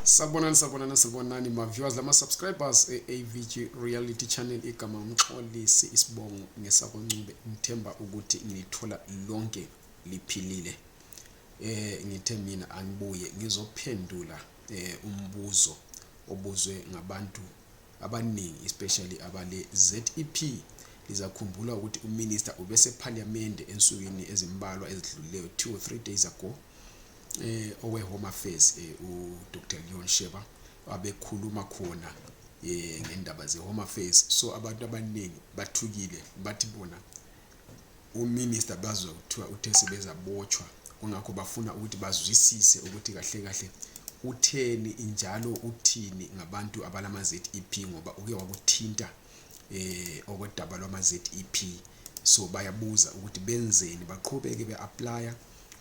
sabonani sabonani sabonani ma-viewers lama-subscribers e-avg reality channel igama ngixolisi isibongo ngesakoncube ngithemba ukuthi ngilithola lonke liphilile eh ngithe mina angibuye ngizophendula eh umbuzo obuzwe ngabantu abaningi especially abale ZEP lizakhumbula ukuthi uminister ubese parliament ensukwini ezimbalwa ezidlulileyo 2 or 3 days ago eh oweHome Affairs eh, uDr Leon Sheba abekhuluma khona eh ngendaba zeHome Affairs so abantu abaningi bathukile bathi bona uminister bazwa kuthiwa uthe sebezabotshwa kungakho bafuna ukuthi bazwisise ukuthi kahle kahle utheni njalo uthini ngabantu abalama ZEP ngoba uke wakuthinta eh okodaba lwama ZEP so bayabuza ukuthi benzeni baqhubeke beapply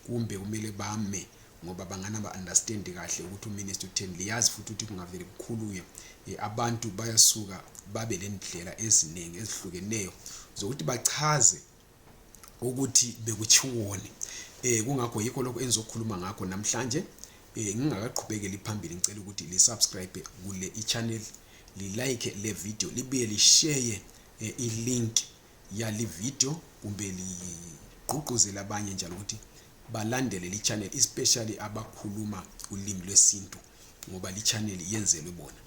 kumbe kumele bame ngoba bangana ba understand kahle ukuthi uminister utheni liyazi futhi ukuthi kungavele kukhulunywe eh, abantu bayasuka babe lendlela eziningi ezihlukeneyo zokuthi bachaze ukuthi bekutshiwoni eh kungakho yikho lokho engizokhuluma ngakho namhlanje eh ngingakaqhubekeli phambili ngicela ukuthi li subscribe kule i channel li like le video libuye li share eh, i link yali video kumbe ligqugquzele abanye njalo ukuthi balandele li channel especially abakhuluma ulimi lwesintu ngoba li channel yenzelwe bona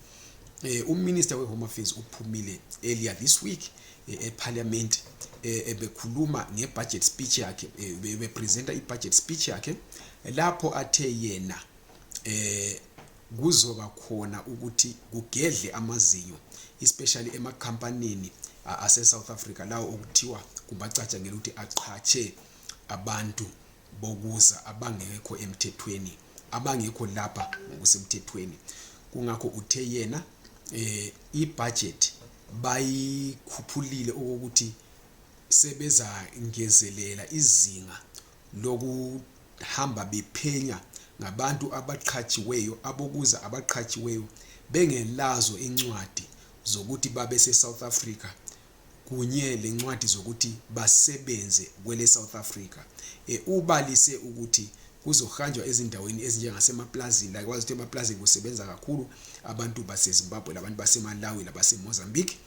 eh uminister we home affairs uphumile earlier this week eh, e parliament eh, ebekhuluma nge budget speech yakhe eh, be presenter i budget speech yakhe lapho athe yena eh kuzoba khona ukuthi kugedle amazinyo especially emakhampanini aseSouth Africa lawo okuthiwa kubacatshangela ukuthi aqhatshe abantu bokuza abangekho emthethweni abangekho lapha ngokusemthethweni kungakho uthe yena eh ibudget bayikhuphulile okokuthi sebezangezelela izinga lokuhamba bephenya ngabantu abaqhatshiweyo abokuza abaqhatshiweyo bengelazo incwadi zokuthi babe seSouth Africa kunye lencwadi zokuthi basebenze kwele South Africa e, ubalise ukuthi kuzohanjwa ezindaweni ezinjengasemaplazini like wazi ukuthi emaplazini kusebenza kakhulu abantu basezimbabwe labantu basemalawi labasemozambique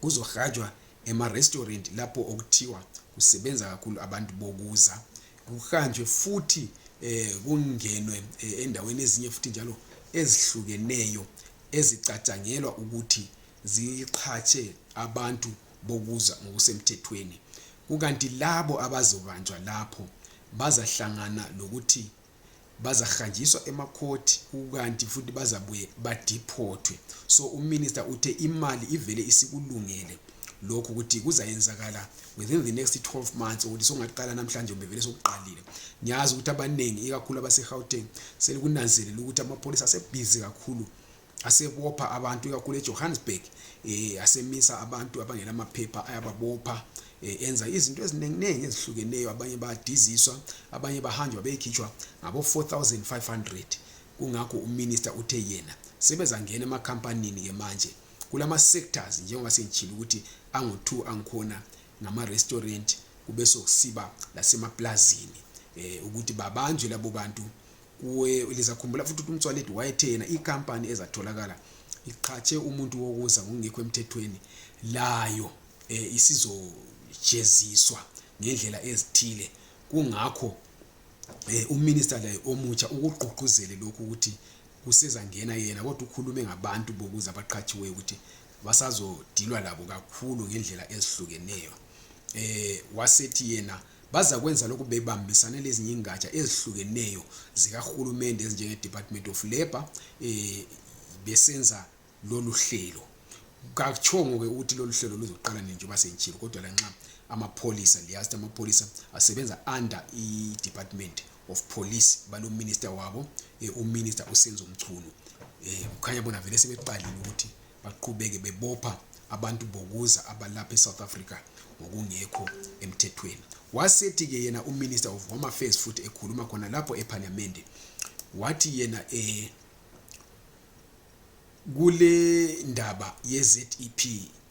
kuzohanjwa emarestaurant lapho okuthiwa kusebenza kakhulu abantu bokuza kuhanjwe futhi eh kungenwe eh, endaweni ezinye futhi njalo ezihlukeneyo ezicatshangelwa ukuthi ziqhatshe abantu bokuza ngokusemthethweni kukanti labo abazobanjwa lapho bazahlangana lokuthi bazahanjiswa emakhothi kukanti futhi bazabuye badiphothwe so uminister uthe imali ivele isikulungele lokhu ukuthi kuzayenzakala within the next 12 months ukuthi songaqala namhlanje kumbe vele sokuqalile ngiyazi ukuthi abaningi ikakhulu abasegauteng selikunanzelela ukuthi amapholisa asebhizi kakhulu asebopha abantu ikakhulu eJohannesburg eh asemisa abantu abangela amaphepha ayababopha eh, enza izinto eziningi ezihlukeneyo abanye badiziswa abanye bahanjwa beyikhitshwa ngabo 4500 kungakho uminister uthe yena sebezangena emakhampanini ke manje kulama sectors njengoba sengitshilo ukuthi angu2 angikhona ngama restaurant kube sokusiba lasemaplazini eh ukuthi babanjwe labo bantu kuwe lizakhumbula futhi ukuthi umtswaledi wayethe yena ikampani ezatholakala iqhatshe umuntu wokuza ngokungekho emthethweni layo um isizojeziswa ngendlela ezithile kungakho um uminista laye omutsha ukugqugquzele lokhu ukuthi kusezangena yena kodwa ukhulume ngabantu bokuza abaqhatshiweyo ukuthi basazodilwa labo kakhulu ngendlela ezihlukeneyo um wasethi yena Bazakwenza lokhu bebambisane lezinye ingatsha ezihlukeneyo zikahulumende ezinjenge Department of Labour eh, besenza lolu hlelo. Katshongo-ke ukuthi lolu hlelo luzoqala nini njengoba sengitshilo kodwa lanxa amapholisa liyazi ukuthi amapholisa asebenza under i-department of police balominister wabo eh, uminister usenzo mchunu um kukhanya bona vele sebeqalile ukuthi baqhubeke bebopha abantu bokuza abalapha eSouth Africa ngokungekho emthethweni wasethi ke yena uminister of home affairs futhi ekhuluma khona lapho eparliament wathi yena eh kule ndaba yeZEP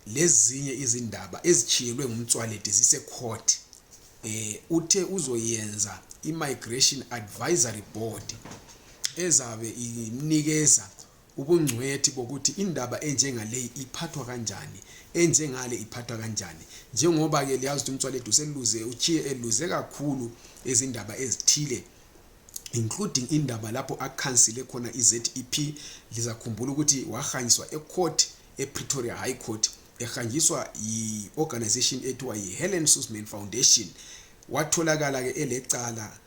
lezinye izindaba ezithiyelwe ngumtswaledi zisecourt eh uthe uzoyenza imigration advisory board ezabe inikeza ubungcwethi bokuthi indaba enjengaleyi iphathwa kanjani enjengale iphathwa kanjani njengoba ke liyazi ukuthi umtswalethu seluze uchiye eluze kakhulu izindaba ezithile including indaba lapho akhansile khona i-zep lizakhumbula ukuthi wahanyiswa ecourt epretoria high court ehanjiswa yi-organization ethiwa yi-helen susman foundation watholakala-ke elecala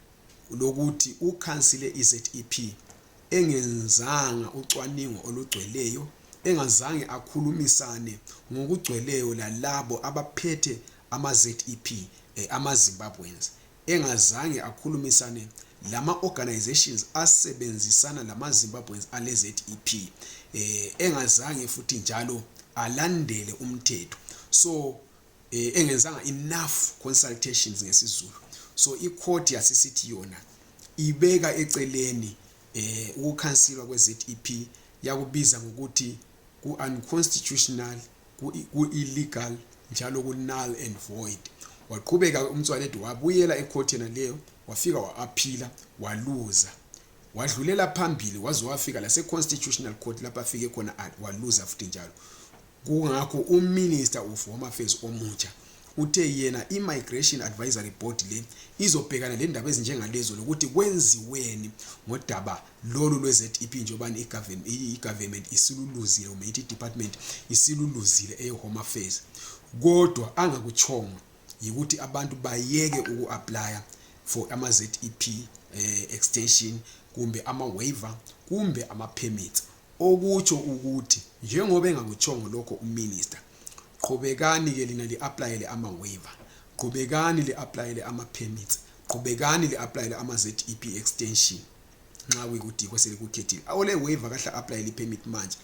lokuthi ukhansile i-zep engenzanga ucwaningo olugcweleyo engazange akhulumisane ngokugcweleyo lalabo abaphethe ama-zep eh, ama-zimbabweans engazange akhulumisane lama-organizations asebenzisana lama-zimbabweans ale-zep eh, engazange futhi njalo alandele umthetho so eh, engenzanga enough consultations ngesizulu so icourt yasisithi yona ibeka eceleni eh ukukhansilwa kweZEP yakubiza ngokuthi ku unconstitutional ku illegal njalo ku null and void waqhubeka umtswaledi wabuyela ecourt yena leyo wafika wa-aphila waluza wadlulela phambili waze wafika lase-constitutional court lapho afike khona waluza futhi njalo Kungakho uMinister of Home Affairs omutsha uthe yena i-Migration Advisory Board le izobhekana lendaba ezinjengalezo lokuthi kwenziweni ngodaba lolu lwe-ZEP njengobani i-government isiluluzile kumbe ithi i-department isiluluzile eye-Home Affairs kodwa angakutshongo yikuthi abantu bayeke uku-aplya for ama-ZEP eh, extension kumbe ama-waiver kumbe ama-permits Okutsho ukuthi njengoba engakutshongo lokho uMinister, qhubekani ke lina li-aplayele ama-waiver, qhubekani li-aplayele ama-permits, qhubekani li-aplayele ama-ZEP extension nxa kuyikuthi yikho selikukhethile. Ole-waiver kahle a-aplayele i-permit manje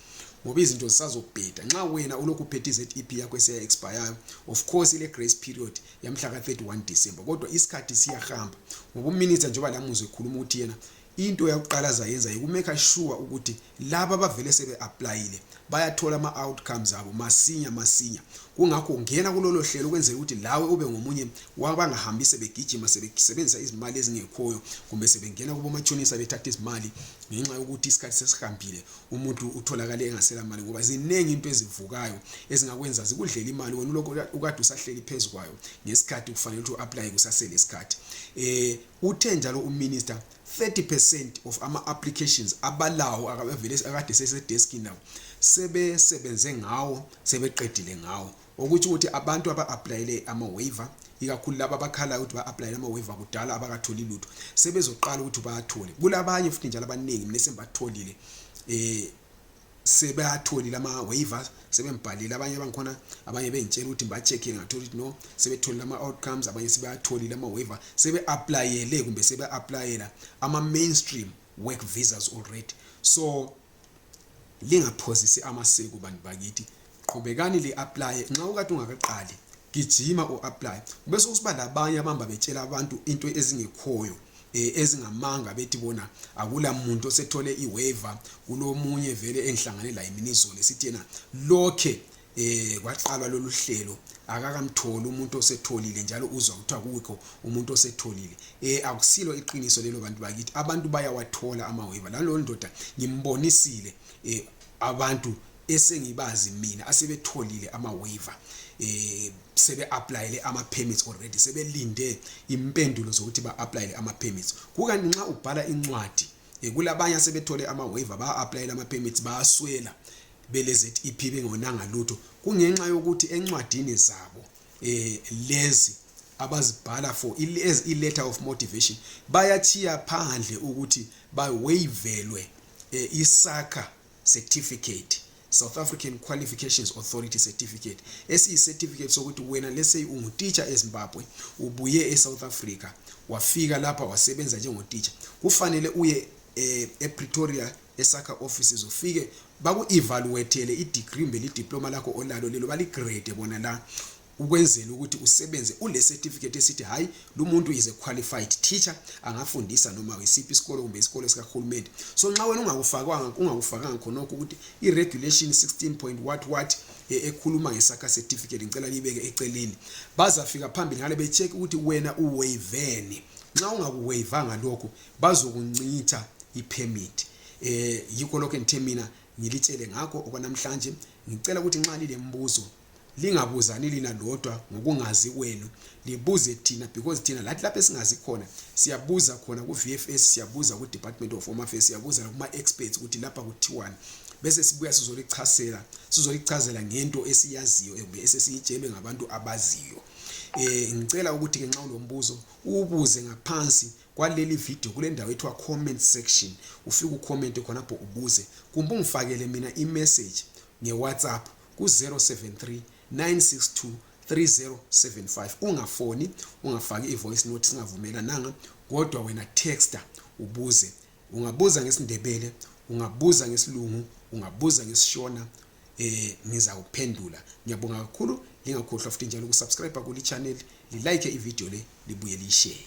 ngoba izinto zisazobheda. Nxa wena ulokhu uphethe i-ZEP yakho esiya-expayayo, of course ile-grace period yamhla ka-31 December kodwa isikhathi siyahamba ngoba uMinister njengoba lamuzwa ekhuluma ukuthi yena into yakuqala azayenza yikumeka sure ukuthi laba abavele sebe-aplayile bayathola ama-outcomes abo masinya masinya kungakho ngena kulolo hlelo ukwenzela ukuthi lawe ube ngomunye wabangahambi sebegijima sebesebenzisa izimali ezingekhoyo kumbe sebengena kubomatshonisa bethatha izimali ngenxa yokuthi isikhathi sesihambile umuntu utholakale engasela mali ngoba ziningi into ezivukayo ezingakwenza zikudlela imali wena ulokhu ukade usahleli phezu kwayo ngesikhathi kufanele ukuthi u-aplaye kusasele isikhathi um Uthe njalo uminister 30% of ama applications abalawo akavele akade sesedesk now sebesebenze ngawo sebeqedile ngawo okuthi ukuthi abantu aba applyele ama waiver ikakhulu laba abakhala ukuthi ba applyele ama waiver kudala abakatholi lutho sebezoqala ukuthi bathole kulabanye futhi njalo abaningi mina sembatholile eh sebeyatholile ama-waivers sebembhalile abanye bangikhona abanye bengitshela ukuthi ngiba-checkile ngathola ukuthi no sebetholile ama-outcomes abanye sebeyatholile ama-waiver sebe-aplayele kumbe sebe-aplayela ama-mainstream work visas already so lingaphozisi amaseko bantu bakithi qhubekani li apply nxa ukade ungakaqali gijima o apply bese kusiba labanye abamba betshela abantu into ezingekhoyo eh, ezingamanga bethi bona akula muntu osethole iwaiver kulomunye vele engihlangane laye mina izolo esithi yena lokhe eh kwaqalwa lolu hlelo akakamtholi umuntu osetholile njalo uzwa kuthiwa kukho umuntu osetholile eh akusilo iqiniso lelo bantu bakithi abantu bayawathola amaweva lalo ndoda ngimbonisile eh abantu esengibazi mina asebetholile ama waiver eh sebe applyele ama permits already sebelinde impendulo zokuthi ba applyele ama permits kukani nxa ubhala incwadi eh, kulabanye asebethole ama waiver ba applyele ama permits bayaswela bele ZEP bengonanga lutho kungenxa yokuthi encwadini zabo eh lezi abazibhala for as i letter of motivation bayachiya phandle ukuthi bawavelwe eh, isakha certificate South African Qualifications Authority certificate esiyi certificate sokuthi wena lese ungutitsha eZimbabwe ubuye eSouth Africa wafika lapha wasebenza njengotitsha kufanele uye eh, ePretoria esakha offices ufike baku-evaluatele i-degree kumbe lidiploma lakho olalo lelo baligrade bona la ukwenzela ukuthi usebenze ulecertificate esithi hayi lumuntu is a qualified teacher angafundisa noma isiphi isikolo kumbe isikolo sikahulumende so nxa wena ungakufakwanga ungakufakanga khonokho ukuthi i-regulation 16 point what what e, ekhuluma ngesakha certificate ngicela niyibeke eceleni bazafika phambili ngale becheck ukuthi wena uwayiveni nxa ungakuwayivanga lokho bazokuncitha ipermit eh yikho lokho engithe mina ngilitshele ngakho okwanamhlanje ngicela ukuthi nxa lilemibuzo lingabuzani lina lodwa ngokungazi kwenu libuze thina because thina lathi lapho esingazi khona siyabuza khona ku-vfs siyabuza ku-department of home affairs siyabuza nakuma-experts ukuthi lapha kuthiwani bese sibuya sizolichasela sizolichazela ngento esiyaziyo kumbe esesiyitshelwe ngabantu abaziyo eh ngicela ukuthi ke nxa ulombuzo ubuze ngaphansi kwaleli video kule ndawo ethiwa comment section ufike ucommente khonapho ubuze kumbe ungifakele mina imessage ngewhatsapp ku-073 962 3075 ungafoni ungafaki i-voice note singavumelananga kodwa wena texta ubuze ungabuza ngesindebele ungabuza ngesilungu ungabuza ngesishona eh ngiza kuphendula ngiyabonga kakhulu lingakhohlwa futhi njalo ukusubscribe kuli channel lilike ivideo le libuye liyishare